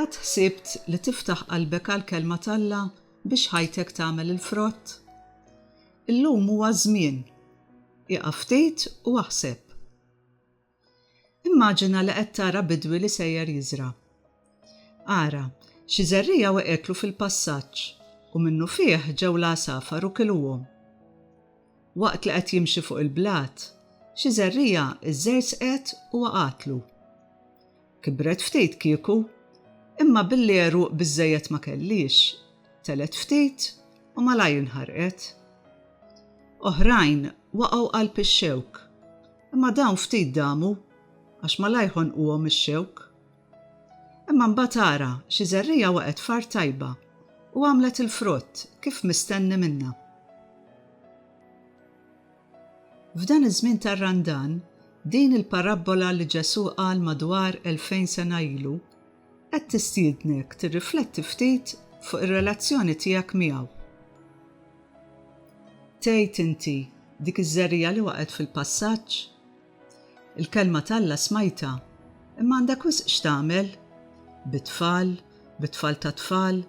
Qatt ħsibt li tiftaħ qalbek għall-Kelma t'Alla biex ħajtek tagħmel il-frott? Illum huwa ż-żmien. Ieqaf ftit u aħseb. Immaġina li qed tara bidwi li sejjer jiżra'. Ara, xi żerriegħa waqgħetlu fil-passaġġ, u minnufih ġew l-għasafar u kiluhom. Waqt li qed jimxi fuq il-blat, xi żerriegħa żżerżqet u waqgħatlu. Kibret ftit kieku, imma billi għeruq biżżejjed ma kellhiex, telgħet ftit u malajr inħarqet. Oħrajn waqgħu qalb ix-xewk, imma dawn ftit damu għax malajr ħonquhom ix-xewk. Imma mbagħad ara, xi żerriegħa waqgħet f'art tajba u għamlet il-frott kif mistenni minnha. F'dan iż-żmien tar-Randan, din il-parabbola li Ġesù qal madwar elfejn sena ilu qed tistiednek tirrifletti ftit fuq ir-relazzjoni tiegħek miegħu. Tgħid inti, Dik iż-żerriegħa li waqgħet fil-passaġġ? Il-Kelma t'Alla smajtha, imma għandek wisq x'tagħmel, bit-tfal, bit-tfal tat-tfal,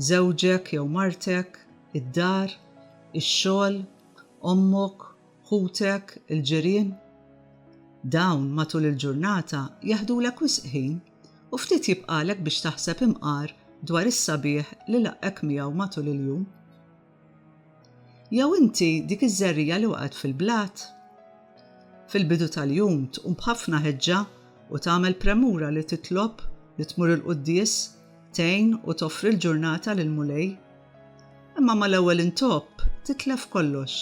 żewġek jew martek, id-dar, ix-xogħol, ommok, ħutek, il-ġirien. Dawn matul il-ġurnata jeħdulek wisq ħin u ftit jibqagħlek biex taħseb imqar dwar is-sabiħ li laqqgħek miegħu matul il-jum. Jew inti dik iż-żerriegħa li waqgħet fil-blat? Fil-bidu tal-jum tqum b'ħafna ħeġġa u tagħmel premura li titlob li tmur il-quddies tgħin u toffri l-ġurnata lill-Mulej. Imma mal-ewwel intopp titlef kollox.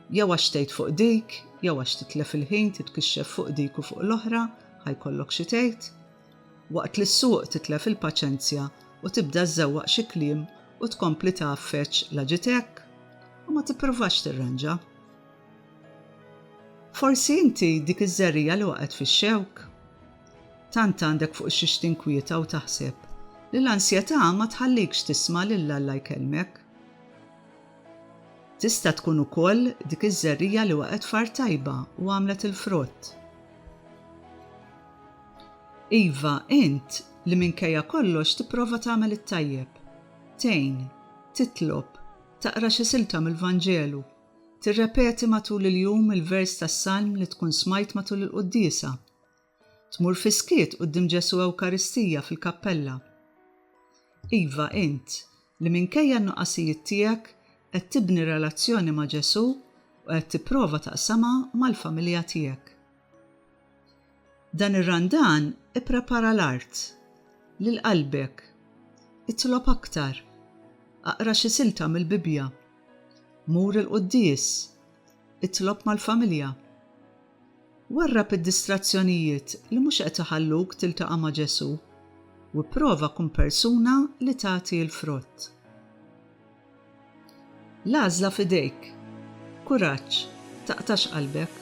Jew għax tgħid fuq dik, jew għax titlef il-ħin titkixxef fuq dik u fuq l-oħra, ħa jkollok xi tgħid. Waqt li ssuq titlef il-paċenzja u tibda żżewwaq xi kliem u tkompli tgħaffeġ la ġiet hekk u ma tippruvax tirranġa. Forsi inti dik iż-żerriegħa li waqgħet fix-xewk. Tant għandek fuq xiex tinkwieta u taħseb, li l-ansjetà ma tħallikx tisma' lil Alla jkellmek. Tista' tkun ukoll dik iż-żerriegħa li waqgħet f'art tajba u għamlet il-frott. Iva, int, li minkejja kollox tipprova tagħmel it-tajjeb, tgħin, titlob, taqra xi silta mill-Vanġelu, tirrepeti matul il-jum il-vers tas-salm li tkun smajt matul il-quddiesa, Tmur fis-skiet quddiem Ġesù Ewkaristija fil-kappella. Iva, int, li minkejja n-nuqqasijiet tiegħek qed tibni relazzjoni ma' Ġesù u qed tipprova taqsamha mal-familja tiegħek. Dan ir-Randan ipprepara l-art, lil qalbek. Itlob aktar. Aqra xi silta mill-Bibbja. Mur il-quddies. Itlob mal-familja. Warrab id-distrazzjonijiet li mhux qed iħalluk tiltaqa' ma' Ġesù, u ipprova kun persuna li tagħti l-frott. L-għażla f'idejk. Kuraġġ, taqtax qalbek.